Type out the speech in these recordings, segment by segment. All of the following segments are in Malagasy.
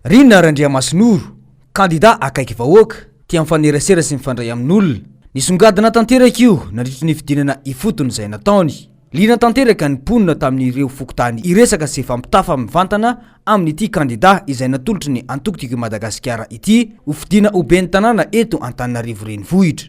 Rina Randriamasinoro, kandidà akaiky vahoaka, tia mifanerasera sy mifandray amin'olona. Nisongadina tanteraka io nandritry ny fidinana ifotony izay nataony. Liana tanteraka ny mponina tamin'ireo fokontany hiresaka sy hifampitafa mivantana amin'ity kandidà izay natolotry ny antoko Tiako i Madagasikara ity ho fidiana ho ben'ny tanàna eto Antananarivo Renivohitra.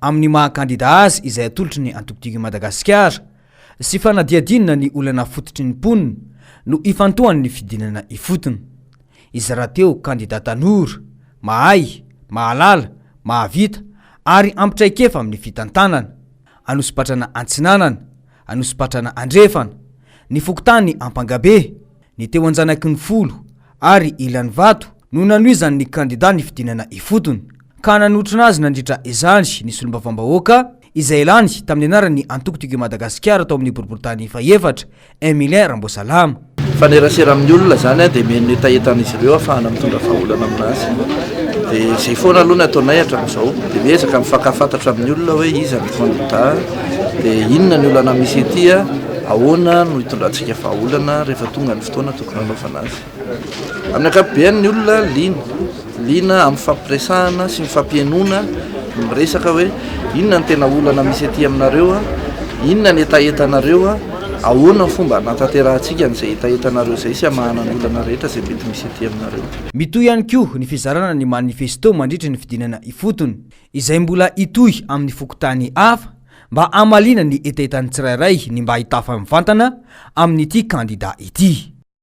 amin'ny maha kandida azy izay atolotry ny Antokotiko i Madagasikara sy fanadihadiana ny olana fototry ny mponina no ifantohan'ny fidinana ifotony. Izy rahateo kandida tanora, mahay, mahalala, mahavita ary ampy traikefa amin'ny fitantanana, Anosipatrana Antsinanana, Anosipatrana Andrefana, ny fokontany Ampangabe, Ny teo an-janaky ny folo ary ilany vato no nanohizany ny kandida nifidinana ifotony ka nanotrona azy nandritra izany ny solombavambahoaka izay lany tamin'ny anaran'ny antoko Tiako i Madagasikara tao amin'ny boriborintany fahefatra, Emilien Ramboasalama. Mifanerasera amin'ny olona izany dia mihaino ny hetahetan'izy ireo hahafahana mitondra vahaolana amin'azy. Dia izay foana aloha ny ataonay hatramin'izao. Dia miezaka mifankahafantatra amin'ny olona hoe iza ny kandida, dia inona ny olana misy ety, ahoana no hitondrantsika. Dia vahaolana rehefa tonga ny fotoana tokony hanaovana azy. Amin'ny ankapobeny ny olona liana, liana amin'ny fifampiresahana sy ny fampihenona ny miresaka hoe inona ny tena olana misy ety aminareo, inona ny hetahetanareo, ahoana ny fomba hanatanterahantsika an'izay hetahetanareo izay sy hamahana ny olana rehetra izay mety misy ety aminareo. Mitohy ihany koa ny fizarana ny manifesto mandritry ny fidinana ifotony, izay mbola hitohy amin'ny fokontany hafa, mba hamaliana ny hetahetan'ny tsirairay ny mba hitafa mivantana amin'ity kandida ity.